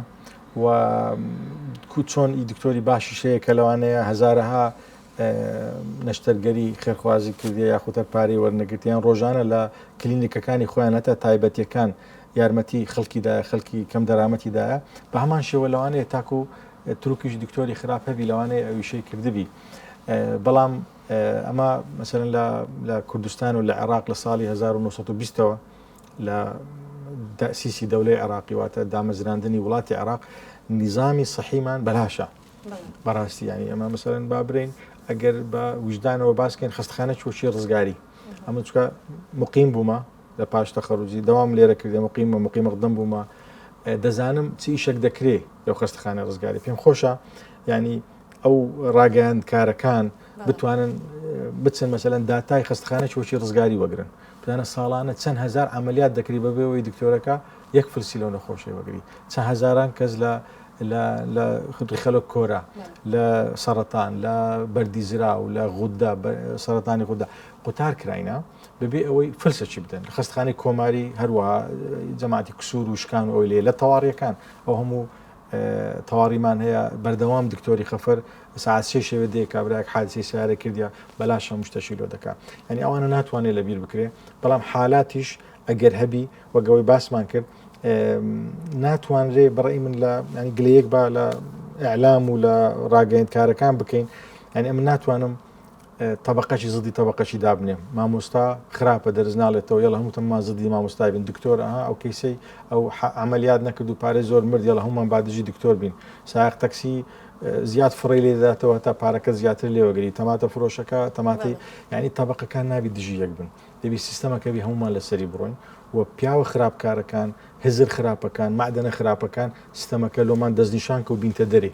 و کوچۆن ئی دکتۆری باشی شەیە کە لەوانەیە هزارەها نەشتەرگەری خێرخوازی کردی یاخوتەر پارەی وەرنەگرتیان ڕۆژانە لە کلینیکەکانی خۆیان هەتا تایبەتەکان یارمەتی خەلکی دایە خەلکی کەم دەرامەتی دایە بە هەمان شێوە لەوانەیە تاکو تروکیش دکتۆری خراپ هەبی لەوانەیە ئەویشەی کردبی بەڵام ئەمە مەسەرن لە کوردستان و لە عێراق لە ساڵی 1920ەوە لە سیسی دەولەی عێراقی واتە دامەزراندنی وڵاتی عێراق نظامی سەحیمان بەلاشە بەڕاستی ینی ئەمە مەسەرن با برین ئەگەر بە وجدانەوە باسکەین خستخانە چۆچی ڕزگاری ئەمە چکە مقیم بوومە لە پاش تەخەروجی داوام لێرە کردێ مقیم و مقیم مقدم بوومە دەزانم چ ئیشێک دەکرێ لەو خەستخانە ڕزگاری پێم خۆشە ینی ئەو ڕاگەیاند کارەکان بتوانن بچن مەسەەن داتای خستخانە چۆچی ڕزگاری وەگرن بزانە ساڵانە چەند هزار عملیات دەکری بەبێەوەی دکتۆرەکە یەک فلسی لەو نەخۆشی وەگری چە هزاران کەس لە لە خودی خەلک کۆرە لە سەرەتان لە بەردی زرا و لە غوددا سەرەتانی خوددا قوتار کراینە بەبێ ئەوەی فلسەچی بدەن خستخانی کۆماری هەروە جەماعتی کسور و شکان و ئەوی لێ لە تەواریەکان ئەو هەموو تەواریمان هەیە بەردەوام دکتۆری خەفەر ساعسێ شێوێ دێ کابراک حادسی سیارە کردیا بەلاش هەموو شتەشی لۆ دەکات ینی ئەوانە ناتوانێت لە بیر بکرێ بەڵام حالاتیش ئەگەر هەبی وەگەوەی باسمان کرد ناتوانرێ بڕی من لە ینی گلەیەک با لە ئەعلام و لە ڕاگەیندکارەکان بکەین ینی ئەم ناتوانم تەبەقەکی زدی تەبەقەکی دابنێ مامۆستا خراپە دەرز ناڵێتەوە یڵە هەمووتەمان زدی مامۆستای بن دکتۆر ئەها ئەو کەیسەی ئەو ئەعملیات نەکرد و پارێ زۆر مرد یڵە هەمومان بادژی دکتۆر بین ساق تەکسی زیاد فڕی لێداتەوە تا پارەکە زیاتر لێوەگری تەماتە فرۆشەکە تەماتی ینی تەبقەکان نابی دژی یەک بن دەبی سیستەمەکەبی هەمومان لەسەری بڕۆین و پیاوە خراپکارەکان هزر خراپەکان معدەنە خراپەکان سیستەمەکە لۆمان دەستنیشان کە و بینتە دەری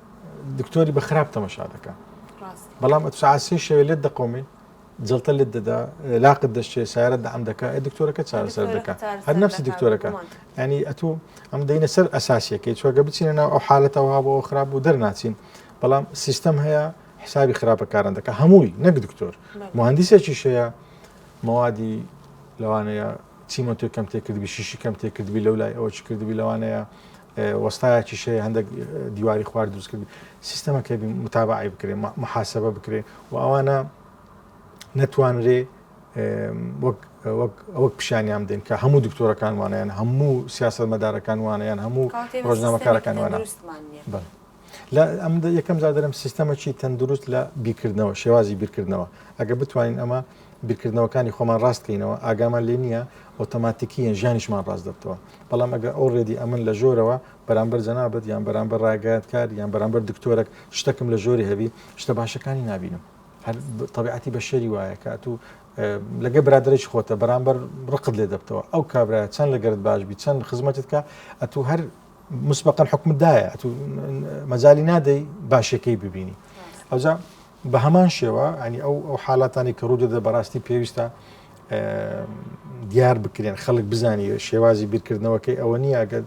دکتۆری بە خراپ تەمەشا دەکە بەڵام ئەت سعات سێ شەوێ لێت دەقۆمێ جڵتە لێت دەدا لاقت دەشتێ سارە دام دەکە ئە دکتۆرەکە چارەسەر دەکە هەر نفسی دکتۆرەکە ینی ئەتو ئەم دەینە سەر ئەساسیەکەی چۆگە بچینە ناو ئەو حالەتەوە بۆ خراپ و دەرناچین بەڵام سیستەم هەیە حسابی خراپەکاران دەکە هەمووی نەک دکتۆر مهندسێکی شەیە مەوادی لەوانەیە چیمەتۆی کەم تێکردبی شیشی کەم تێکردبی لەو لای ئەوە چ کردبی لەوانەیە وەستایەکیش هەیە هەندێک دیواری خوار دروست کرد سیستەمەکە متابعی بکرێ محاسبە بکرێ و ئەوانە نەتوانرێ وەک ئەوەک پیشانیان دێن کە هەموو دکتۆرەکان وانیان هەموو سیاست مەدارەکان وانیان هەموو ڕۆژنامەکارەکان وانە لە ئەم یەکەم زادرم سیستەمەکی تەندروست لە بیکردنەوە شێوازی بیرکردنەوە ئەگە بتوانین ئەمە بیرکردنەوەکانی خۆمان ڕاستکەینەوە ئاگامان لێ نییە ئۆتۆماتیکیە ژیانیشمان ڕاست دەبتەوە بەڵام ئەگە ئەو ڕێدی ئەمن لە ژۆرەوە بەرامبەر جەنابەت یان بەرامبەر ڕاگەیاتکار یان بەرامبەر دکتۆرەك شتەکم لە ژۆری هەبی شتە باشەکانی نبینم هەر طبیعەتی بە شەری وایە کە تو لەگە برادرش خۆتە بەرامبەر ڕقت لێ دەبتەوە ئەو کابراە چەند لەگەرت باش بی چەند خزمەتت کە ئەتو هەر مسبقا حکومت دایە ئەتو مەجای نادەی باشەکەی ببینی ئەوجا بە هەمان شێوە ئەنی ئەو ئەو حالاتانی کە ڕوودەدە بەڕاستی پێویستە دیار بکرێن خەڵک بزانانی شێوازی بیرکردنەوەکەی ئەوە نییە ئەگەر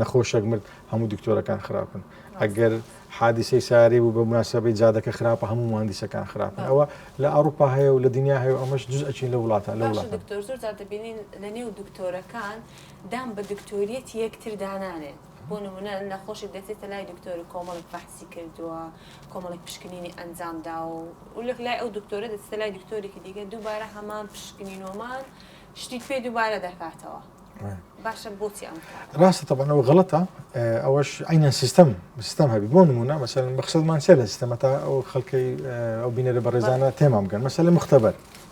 نەخۆشەک مرد هەموو دکتۆرەکان خراپن ئەگەر حادیسەی سارێ بوو بە مناسبەی جادەکە خراپە هەموو مهندیسەکان خراپن ئەوە لە ئەوروپا هەیە و لە دنیا هەیە ئەمەش جز ئەچین لە وڵاتان لە وڵات دکتۆر زۆر دەبینین لە نێو دکتۆرەکان دان بە دکتۆریەتی یەکتر دانانێن بۆ نمونە نەخۆشێک دەچێتە لای دکتۆرە کۆمەڵێک بەحسی کردووە کۆمەڵێک پشکنینی ئەنجام داوە و لەک لای ئەو دکتۆرە دەچێتە لای دکتۆرێکی دیگە دووبارە هەمان پشکنینۆمان شتی پێ دووبارە دەکاتەوە باشە بۆچی ئەم ڕاستە تەبانەوە غڵەتە ئەوەش ئەینە سیستم سیستم هەبی بۆ نمونە مەسەن مەخصدمان سێ لە سیستەمە تا ئەو خەڵکەی ئەو بینەرە بەڕێزانە تێمام بگەن مەسەل مختبەر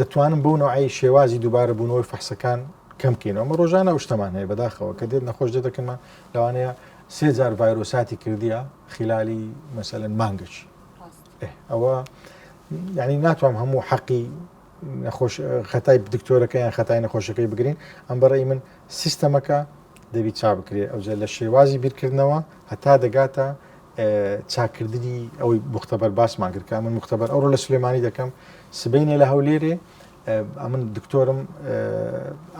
دەتوانن بەو نەوعی شێوازی دووبارە بوونەوەی فەحسەکان کەم بکەینەوە مە ڕۆژانە شتەمان هەیە بەداخەوە کە دێت نەخۆش دەدەکەمان لەوانەیە سێ جار ڤایرۆساتی کردیە خلالی مەسەلەن مانگەچ ئەوە ینی ناتوانم هەموو حەقی نەخۆش خەتای دکتۆرەکە یان خەتای نەخۆشەکەی بگرین ئەم بەڕێی من سیستەمەکە دەبی چا بکرێ ئەوجە لە شێوازی بیرکردنەوە هەتا دەگاتە چاککردنی ئەوەی مختبەر باسمان کرد من مختبەر ئەوڕۆ لە سلێمانی دەکەم سبینێ لە هەولێرێ ئەمن دکتۆرم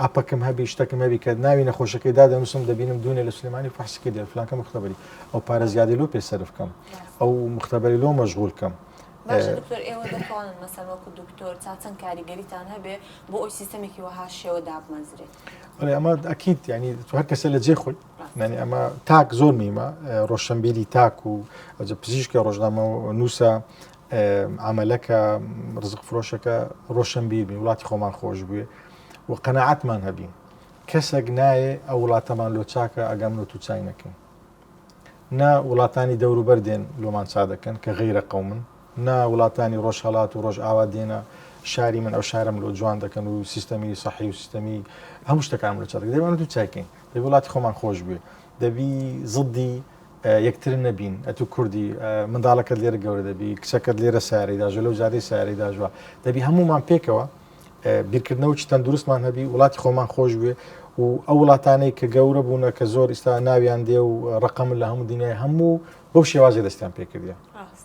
ئاپەکەم هەبی شتەکەم هەبی کە ناوی نەخۆشەکەی دا دەنووسم دەبینم دوونێ لە سلێمانی فحسکی دێ فلانکە مختبەری ئەو پارە زیادی لۆ پێ سرف کەم ئەو مختبەری لۆ مەشغول کەم. دکتۆر ئێوە دەخوانن مەسەر وەکو دکتۆر تا چەند کاریگەریتان هەبێ بۆ ئەوی سیستەمێکی وەها شێوە دابمەزرێت ئەمە ئەکییت ینی هەر کەسە لە جێ خۆی یعنی ئەمە تاک زۆر میمە ڕۆشنبیری تاک و ئەجە پزیشکە ڕۆژنامە و نووسە ئەمەلەکە ڕزق فرۆشەکە ڕۆشنبیرنی وڵاتی خۆمان خۆش بوێ و قەنەعاتمان هەبین کەسێک نایێ ئەو وڵاتەمان لۆ چاکە ئەگەم لۆ تو چای نەکەین نا وڵاتانی دەوروبەر دێن لۆمان چا دەکەن کە غیرە قومن نا وڵاتانی ڕۆژهڵات و ڕۆژ ئاوا دێنە شاری من ئەو شارم لۆ جوان دەکەن و سیستەمی سەحی و سیستەمی هەموو شتەکان لە چاک دەبان و چاکەین دەبی وڵاتی خۆمان خۆش بێ دەبی زدی یەکتر نەبین ئەتو کوردی منداڵەکەت لێرە گەورە دەبی کچەکەت لێرە ساری داژە لەو جادەی ساری داژوە دەبی هەمومان پێکەوە بیرکردنەوە چ تەندروستمان هەبی وڵاتی خۆمان خۆش بێ و ئەو وڵاتانەی کە گەورە بوونە کە زۆر ئستا ناویان دێ و ڕقم لە هەموو دنیای هەموو بەو شێوازی دەستیان پێکردە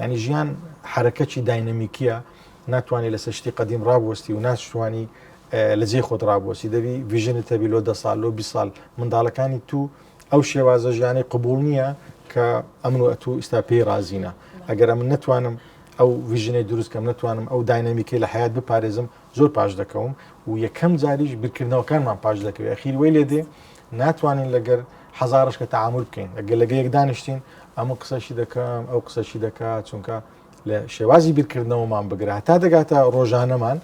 یعنی ژیان حرەکەکی داینەمیکیە ناتوانانی لەسەر شتی قدیم ڕابوەستی و ناشتوانی لە جێ خۆت ڕابوەسی دەبی ویژنت تەبی لۆ دە سال لۆ بی سال منداڵەکانی تو ئەو شێوازە ژیانی قبول نییە کە ئەمن و ئەتو ئستا پێی رازینە ئەگەر من نتوانم ئەو ویژنەی دروستکەم نتوانم ئەو داینەمیکی لە حیات بپارێزم زۆر پاش دەکەوم و یەکەم جاریش بیرکردنەوەکانمان پاش دەکەوێت ئەخیر وی لێ دێ ناتوانین لەگەر هەزارش کە تعامل بکەین ئەگەر لەگە یەک دانیشتین ئەمە قسەشی دەکەم ئەو قسەشی دەکات چونکە لە شێوازی بیرکردنەوەمان بگرە تا دەگاتە ڕۆژانەمان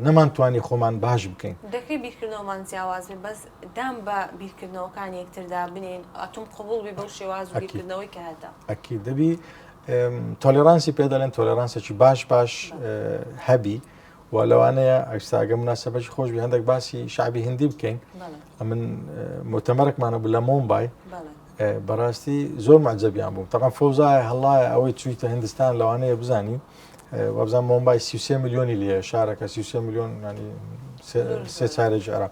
نەمانتوانی خۆمان باش بکەین دەکەی بیرکردنەوەمان جیاواز بێ بەس دام بە بیرکردنەوەکان یەکتردا بنین ئەتوم قوبول بی بەو شێواز بیرکردنەوەی کە هەتە ئەکی دەبی تۆلێرانسی پێ دەڵێن تۆلێرانسێکی باش باش هەبی و لەوانەیە ئەکساگە مناسبەکی خۆش بی هەندێک باسی شعبی هندی بکەین ئەمن متەمەرەکمانە بوو لە مۆمبای بەڕاستی زۆر مەجەبیان بوو تەقام فەوزایە هەڵایە ئەوەی چویتە هندستان لەوانەیە بزانی وابزان مۆمبای سیسێ میلیۆنی لێ شارەکە سیسێ میلیۆن سێ چارێکی عراق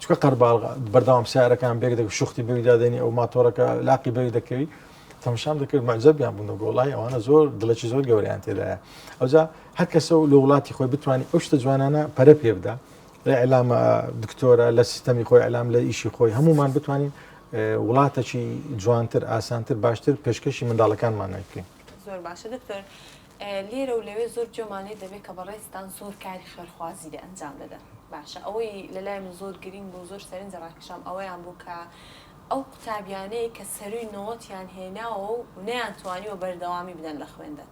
چونکە قەرباڵغە بەردەوام سیارەکان بێک دەک شوختی بەوی دادێنی ئەو ماتۆرەکە لاقی بەوی دەکەوی تەمشام دەکرد مەعجەبیان بوون و گۆڵای ئەوانە زۆر دڵێکی زۆر گەوریان تێدایە ئەوجا هەر کەسە و لە وڵاتی خۆی بتوانانی ئەو شتە جوانانە پەرە پێ بدا لە ئەلامە دکتۆرە لە سیستەمی خۆی ئەلام لە ئیشی خۆی هەمومان بتوانین وڵاتەکی جوانتر ئاسانتر باشتر پێشکەشی منداڵەکانمان نەکەین زۆر باشە دکتۆر لێرە و لەوێ زۆر جۆمان لێ دەبێ کە بەڕێزتان زۆر کاری خێرخوازی لێ ئەنجام دەدەن. باشە ئەوەی لە لای من زۆر گرینگ بوو، زۆر سەرنجی ڕاکێشام ئەوەیان بوو کە ئەو قوتابیانەی کە سەرووی نەوەتیان هێناوە و نەیانتوانیوە بەردەوامی بدەن لە خوێندن،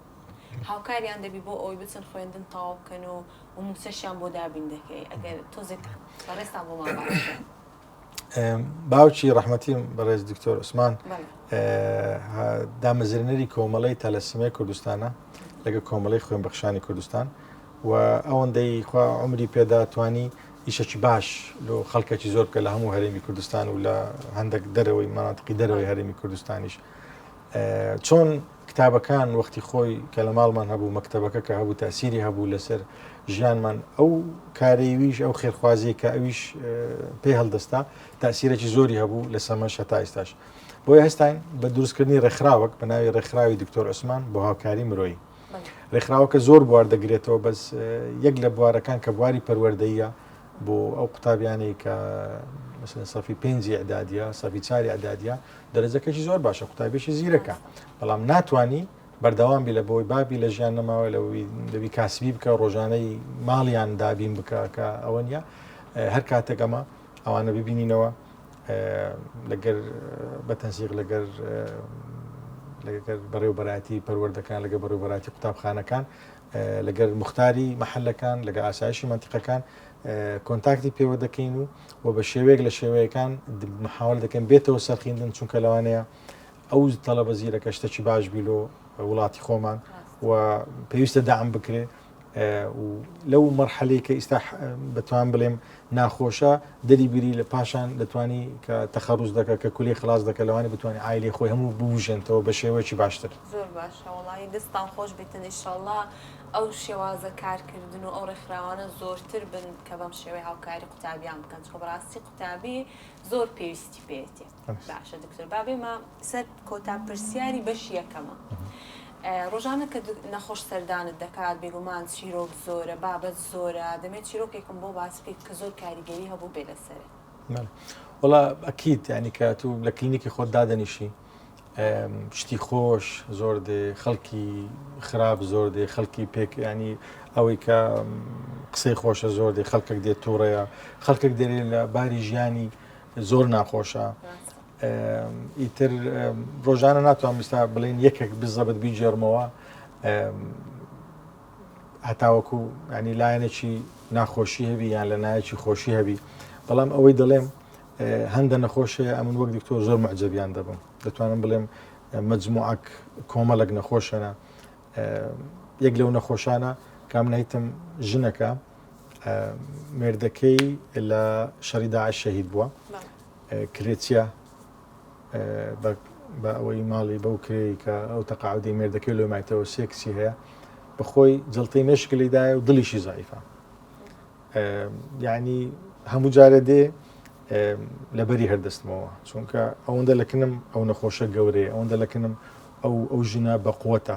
هاوکاریان دەبی بۆ ئەوەی بچن خوێندن تەواو بکەن و مووچەشیان بۆ دابین دەکەی؟ ئەگەر تۆزێک بەڕێزتان بۆمان باس بکەن. باوکی ڕحمەتیم بەڕێز دکتۆر عوسمان دامەزرێنەری کۆمەڵی تەلەسیمای کوردستانە لەگە کۆمەڵی خوێن بەخشانی کوردستان و ئەوەندەی خوا عمری پێدا توانی ئیشەکی باش لۆ خەڵکەکی زۆر بکە لە هەموو هەرێمی کوردستان و لە هەندێک دەرەوەی ماناتقی دەرەوەی هەرێمی کوردستانیش چۆن کتابەکان وەختی خۆی کە لە ماڵمان هەبوو مەکتەبەکە کە هەبوو تاسیری هەبوو لەسەر ژیانمان ئەو کارەیویش ئەو خێرخوازی کە ئەویش پێ هەڵدەستا تاسیرێکی زۆری هەبوو لە سەمەش هەتا ئێستاش بۆی هەستاین بە دروستکردنی ڕێکخراوەک بە ناوی ڕێکخراوی دکتۆر عوسمان بۆ هاوکاری مرۆیی ڕێکخراوەکە زۆر بوار دەگرێتەوە بەس یەک لە بوارەکان کە بواری پەروەردەیە بۆ ئەو قوتابیانی کە مثلەن سەفی پێنجی ئەدادە سەفی چاری ئەدادە دەرەجەکەشی زۆر باشە قوتابیشی زیرەکە بەڵام ناتانی بەردەوام بی لە بۆی بابی لە ژیان نەماوە لە دەبی کاسبی بکە ڕۆژانەی ماڵیان دابین بکە کە ئەوە نیە هەر کاتێک ئەمە ئەوانە ببینینەوە لەگەر بە تەنسیق لەگەر لەگەر بەڕێوبەراتی پەروەردەکان لەگە بەڕێوبەراتی قوتابخانەکان لەگەل موختاری مەحەلەکان، لەگەل ئاسایشی مەنتیقەکان کۆنتاکتی پێوە دەکەین و و بە شێوەیەک لە شێوەیەکان محاول دەکەین بێتەوە سەرخیندن چونکە لەوانەیە ئەو تەڵەبە زیرەکە شتەکی باش بی لۆ وڵاتی خۆمان و پێویستە دام بکرێ لەو مەرحەلەی کە ئیستا بەتوان بڵێم ناخۆشە دەری بگری لە پاشان دەتوانی کە تەخەڕوز دەکە کە کولەی خلاص دەکە لەوانی بتوانانی عایلەی خۆی هەموو بوژێنتەوە بە شێوەیەکی باشتر. زۆر باشە وەڵایی دەستتان خۆش بیتن ئیشەڵا ئەو شێوازە کارکردن و ئەو ڕێکخراوانە زۆرتر بن کە بەم شێوەی هاوکاری قوتابیان بکەن چکۆ بەڕاستی قوتابی زۆر پێویستی پێیەتی. باشە دکتۆر با بێمە سەر کۆتا پرسیاری بەشی یەکەمە ڕۆژانە کە نەخۆش سەردانت دەکات بێگومان چیرۆک زۆرە بابەت زۆرە دەمێت چیرۆکێکم بۆ باس بکەیت کە زۆر کاریگەری هەبوو بێ لەسەرێ وڵا ئەکییت ینی کە تو لە کلینیکی خۆت دادەنیشی شتی خۆش زۆر دێ خەڵکی خراپ زۆر دێ خەڵکی پێک ینی ئەوەی کە قسەی خۆشە زۆر دێ خەڵکێک دێت تووڕەیە خەڵکێک دەێ لە باری ژیانی زۆر ناخۆشە ئیتر ڕۆژانە ناتوان بستا بڵین یەکێک بزەبت بیجێرمەوە هەتاوەکو ینی لایەنێکی ناخۆشی هەبی یان لە نایەکی خۆشی هەبی بەڵام ئەوەی دەڵێم هەندە نەخۆشەیە ئەمن وەک دکتۆر زۆر مەعجەبیان دەبم دەتوانم بڵێم مجموعک کۆمەڵک نەخۆشەە یەک لەو نەخۆشانە کامنیتم ژنەکە مێردەکەی لە شەڕی داعش شەهید بووە کرێچە بە ئەوەی ماڵی بەو کرێ کە ئەو تەقاعدی مێردەکەی لۆ مایتەوە سێکسی هەیە بەخۆی جڵتی مشک لیدایە و دڵیشی زایفە یعنی هەموو جارە دێ لەبەری هەردەستمەوە چونکە ئەوەندە لەکنم ئەو نەخۆشە گەورەیە ئەوەندە لەکنم ئەو ئەو ژنە بەقوتە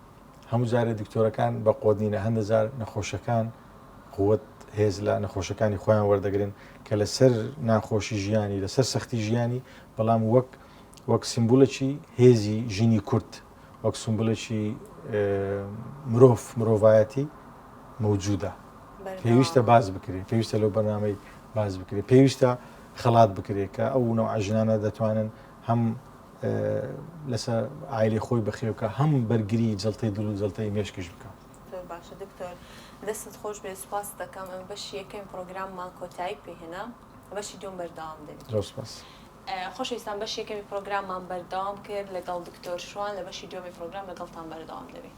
هەموو جارێ دکتۆرەکان بە قۆدینە هەندە جار نەخۆشەکان قوت هێز لە نەخۆشەکانی خۆیان وەردەگرن کە لەسەر ناخۆشی ژیانی لەسەر سەختی ژیانی بەڵام وەک وەک سیمبولەکی هێزی ژینی کورت وەک سمبولەکی مرۆڤ مرۆڤایەتی مەوجودە پێویستە باز بکرێت پێویستە لەو بەنامەی باز بکرێت پێویستە خەڵات بکرێت کە ئەو نەوە ژنانە دەتوانن هەم لەسە ئایری خۆی بەخێوکە هەم بەرگری جڵتەی دڵ و جڵتەی مێشکش بکە باشە دکتۆر دەستت خۆش بێ سوپاس دەکەم ئەم بەشی یەکەم پرۆگراممان کۆتایی پێهێنا بەشی دوم بەردەوام دەبێت خۆشەویستان بەش یەکەمی پرۆگراممان بەردەوام کرد لەگەڵ دکتۆر شوان لە بەشی دومی پرۆگرام لەگەڵتان بەردەوام دەبێت.